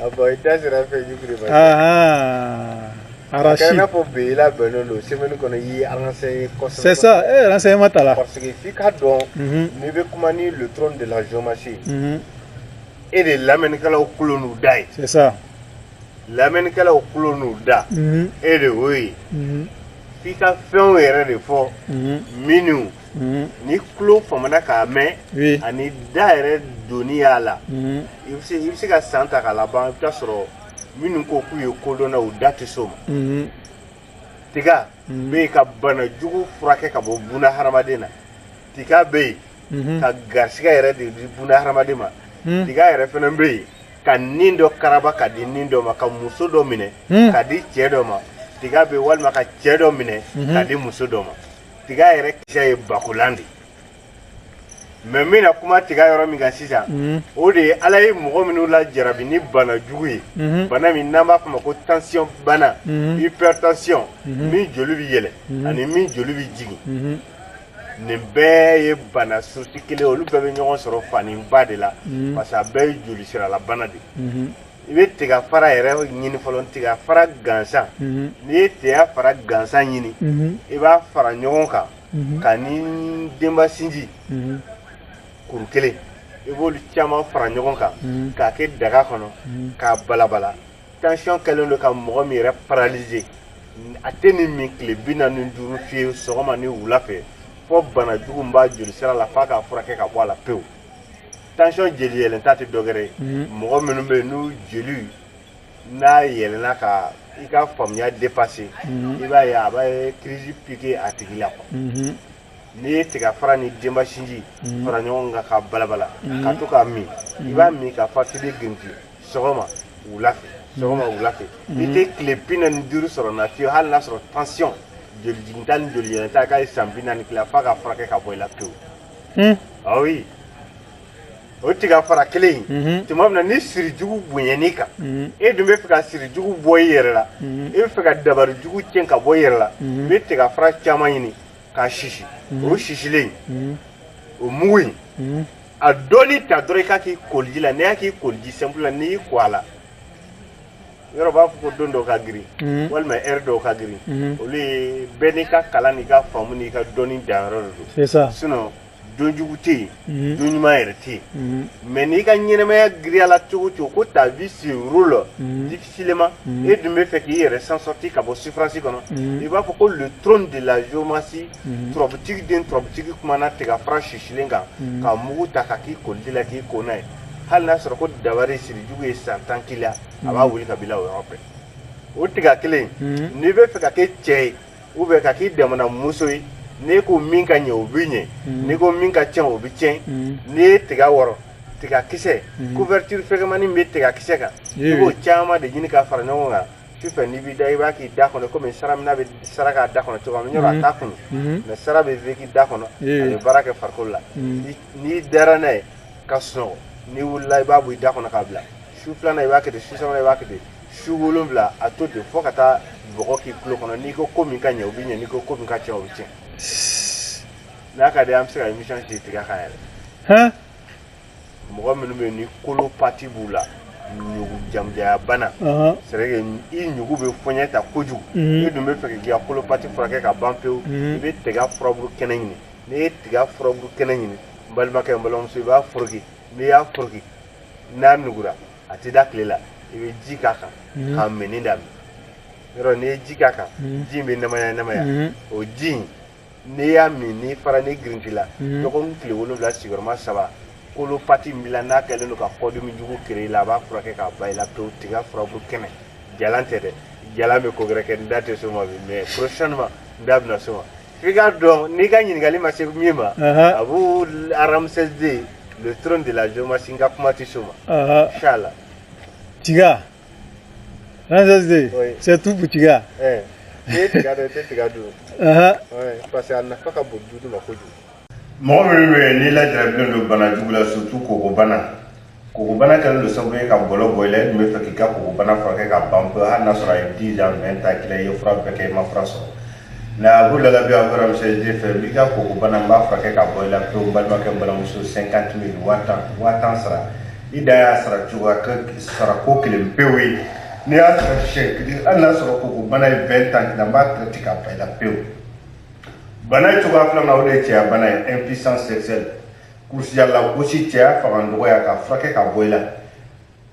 Ah bon i da sera fɛn jiri ma arachide n'a fɔ bi i labɛnnen don semaine kɔnɔ i ye renseigné kosɛbɛ c'est ça e ye renseignement ta la parce que f'i k'a dɔn n'i bɛ kuma ni le trône de la géomancie e de ye lamɛnnikɛlaw kulo n'u da ye c'est ça lamɛnnikɛlaw kulo n'u da e de y'o ye f'i ka fɛnw yɛrɛ de fɔ minnu Mhm. ni kulo famana k'a mɛn Oui. ani da yɛrɛ dɔnniya la Mhm. i bɛ se i bɛ se ka san ta k'a laban i bɛ taa sɔrɔ minnu ko k'u ye kodɔnna u da tɛ s'o ma Mhm. tiga Mhm. bɛ yen ka bana jugu furakɛ ka bɔ buna hadamaden na tiga bɛ yen Mhm. ka garisigɛ yɛrɛ de di buna hadamaden ma Mhm. tiga yɛrɛ fana bɛ yen ka nin dɔ karaba ka di nin dɔ ma ka muso dɔ minɛ Mhm. ka di cɛ dɔ ma tiga bɛ yen walima ka cɛ dɔ minɛ Mhm. ka di muso dɔ ma tiga yɛrɛ kisɛ ye bakolan de mais n bɛna kuma tiga yɔrɔ min kan sisan mhm. o de ye ala ye mɔgɔ minnu lajarabi ni bana jugu ye mhm. bana min n'an b'a kuma ko tansiyɔn bana mhm. hypertension min joli bɛ yɛlɛ ani min joli bɛ jigin nin bɛɛ ye bana source kelen olu bɛɛ bɛ ɲɔgɔn sɔrɔ faniba de la parce que a bɛɛ ye joli siralabana de i bɛ tiga fara yɛrɛ ɲini fɔlɔ tiga fara gansan n'i ye tiga fara gansan ɲini i b'a fara ɲɔgɔn kan k'a ni denbasinji kuru kelen i b'olu caman fara ɲɔgɔn kan k'a kɛ daga kɔnɔ k'a balabala tansiyɔn kɛlen don ka mɔgɔ min yɛrɛ paralyser a tɛ nin min tile bi naani ni duuru fiye sɔgɔma ni wula fɛ fo bana jugu min b'a joli sira la f'a k'a furakɛ ka bɔ a la pewu tansiyɔn jeli yɛlɛnta tɛ dɔgɛrɛ ye mhm. mɔgɔ minnu bɛ yen n'u jeli n'a yɛlɛnna ka i ka faamuya dépasser mhm. i b'a ye a bɛ crise piquer a tigi la quoi mhm. n'i ye tiga fara ni denbasinji fara ɲɔgɔn kan k'a balabala ka to k'a min i b'a min ka fa k'i bɛ girinti sɔgɔma wula fɛ sɔgɔma wula fɛ i tɛ tile bi naani ni duuru sɔrɔ na fiyewu hali n'a sɔrɔ tansiyɔn joli jiginta ni joli yɛlɛnta k'a ye san bi naani k'i la f'a k'a furakɛ ka bɔ i la pewu Hmm. Ah oui. O tiga fara kelen in mhm. tuma min na ni sirijugu bonyan'i kan mhm. e dun bɛ fɛ ka sirijugu bɔ i yɛrɛ la mhm. e bɛ fɛ ka dabari jugu tiɲɛ ka bɔ i yɛrɛ la i bɛ tiga fara caman ɲini k'a sisi o sisilen o mugu in a dɔɔni ta dɔrɔn i k'a k'i koliji la n'i y'a k'i koliji simple la n'i y'i ko a la yɔrɔ b'a fɔ ko don dɔw ka girin mhm. walima heure dɔw ka girin mhm. olu ye bɛɛ n'i ka kalan n'i ka faamu n'i ka dɔnni danyɔrɔ de don sinon don jugu tɛ yen mhm. don ɲuman yɛrɛ tɛ yen mais n'i ka ɲɛnɛmaya giriya la cogo o cogo ko ta vie se roule difficilement e dun bɛ fɛ k'i yɛrɛ s'en sortir ka bɔ souffrance kɔnɔ i b'a fɔ ko le trône de la géomancie turabutigi den turabutigi kumana tiga fara sisilen kan ka mugu ta ka k'i koliji la k'i ko n'a ye hali n'a sɔrɔ ko dabari siri jugu ye san tan k'i la a b'a wuli ka bila o yɔrɔ bɛɛ o tiga kelen n'i bɛ fɛ ka kɛ cɛ ye ou bien ka k'i damana muso ye n'i ko min ka ɲɛ o bɛ ɲɛ n'i ko min ka tiɲɛ o bɛ tiɲɛ n'i ye tiga wɔrɔ tiga kisɛ couverture fɛgɛmani min bɛ tiga kisɛ kan i b'o caman de ɲini ka fara ɲɔgɔn kan sufɛ n'i b'i da i b'a k'i da kɔnɔ komi saramina bɛ sara k'a da kɔnɔ cogoya min yɔrɔ a t'a kunu mais sara bɛ fɛ k'i da kɔnɔ a bɛ baara kɛ farikolo la n'i dara n'a ye ka sunɔgɔ n'i wulila i b'a bɔ i da kɔnɔ k'a bila su filanan i b'a kɛ ten su sabanan i b'a kɛ ten su wolonwula a to ten fo ka taa bɔgɔ k'i tulo kɔnɔ n'i ko ko min ka ɲɛ o bɛ ɲɛ n'i ko ko min ka tiɲɛ o bɛ tiɲɛ n'a ka di an bɛ se ka émission sigi tiga kan yɛrɛ mɔgɔ minnu bɛ yen ni colopathie b'u la ɲugu jamujaya bana c'est vrai que i ɲugu bɛ fɔɲɛ ta kojugu i dun bɛ fɛ k'i ka colopathie furakɛ ka ban pewu i bɛ tiga furabulu kɛnɛ ɲini n'i ye tiga furabulu kɛnɛ ɲini n balimakɛ n balimamuso i b'a foroki n'i y'a foroki n'a nugura a tɛ da tile la i bɛ ji k'a kan mm-hmm. k'a minni daminɛ yɔrɔ n'i ye ji k'a kan mm-hmm. ji in bɛ namaya namaya mm-hmm. o ji in n'i y'a min n'i fara n'i girintila dɔgɔkun tile wolonwula sigiyɔrɔma saba colopathie min b'i la n'a kɛlen don ka kɔdimi jugu kere i la a b'a furakɛ k'a ban i la pewu tiga furabulu kɛnɛ jalan tɛ dɛ jalan bɛ ko gɛrɛ kɛ n da tɛ s'o ma bi mais prochainement n da bɛna s'o ma f'i k'a dɔn n'i ka ɲininkali ma se min ma Abou Ramsès deux le trône de la géomancie n ka kuma tɛ s'o ma inshallah tiga Ramsès deux c'est tout pour tiga n'i ye tiga dɔn i tɛ tiga dun parce que a nafa ka bon du ma kojugu mɔgɔ minnu bɛ yen n'i lajarabilen don bana jugu la surtout kokobana kokobana kɛlen don sababu ye ka bɔlɔ bɔ i la i dun bɛ fɛ k'i ka kokobana furakɛ ka ban pewu hali n'a sɔrɔ a ye 10 ans 20 ans k'i la i ye fura bɛɛ kɛ i ma fura sɔrɔ nka a b'u lalabi Abou Ramsès deux fɛ n b'i ka kokobana n b'a furakɛ ka bɔ i la pewu n balimakɛ n balimamuso 50 000 waa tan waa tan sara i dan y'a sara cogoya sara ko kelen pewu ye n'i y'a sara siɲɛ kelen hali n'a sɔrɔ kokobana ye 20 ans k'i la n b'a traiter ka ban i la pewu bana cogoya filanan o de ye cɛya bana ye impuissance sexuelle kurusijala gosi cɛya fanga dɔgɔya ka furakɛ ka bɔ i la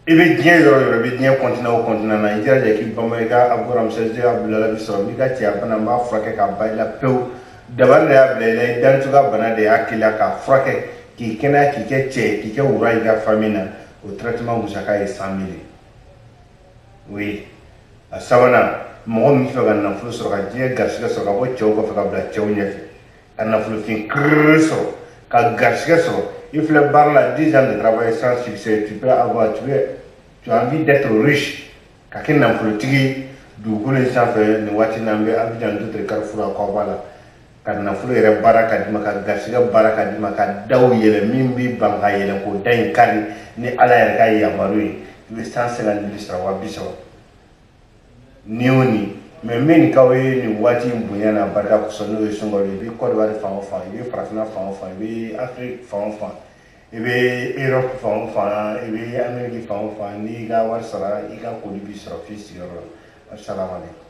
i bɛ diɲɛ yɔrɔ o yɔrɔ i bɛ diɲɛ continent o continent na i jilaja k'i bama i ka Abou Ramsès ka bilala bi sɔrɔ n b'i ka cɛya bana n b'a furakɛ ka ban i la pewu dabali de y'a bila i la i dancogoya bana de y'a k'i la k'a furakɛ k'i kɛnɛya k'i kɛ cɛ ye k'i kɛ wara i ka famille na o traitement musaka ye 100 000 ye oui a sabanan mɔgɔ min b'a fɛ ka nafolo sɔrɔ ka diɲɛ garisigɛ sɔrɔ ka bɔ cɛw kɔfɛ ka bila cɛw ɲɛfɛ ka nafolofin kiriri sɔrɔ ka garisigɛ sɔrɔ i filɛ baara la dix ans de travail sans succès tu peux avoir tu es tu as envie d'être riche ka kɛ nafolotigi ye dugukolo in sanfɛ nin waati n'an bɛ Abidjan Doutre Carrefour Akwaba la ka nafolo yɛrɛ baara k'a d'i ma ka garisigɛ baara k'a d'i ma ka daw yɛlɛ min b'i ban ka yɛlɛ k'o da in kari ni ala yɛrɛ ka yamaru ye i bɛ cent cinquante mille sara wa bi saba ni o ni mais n bɛ nin k'aw ye nin waati in bonya n'a barika kosɔn n'o ye sunkalo ye i bɛ kɔdiwari fan o fan i bɛ farafinna fan o fan i bɛ afiriki fan o fan i bɛ europe fan o fan i bɛ ameriki fan o fan n'i ka wari sara i ka colis b'i sɔrɔ f'i sigiyɔrɔ la asalaamaaleykum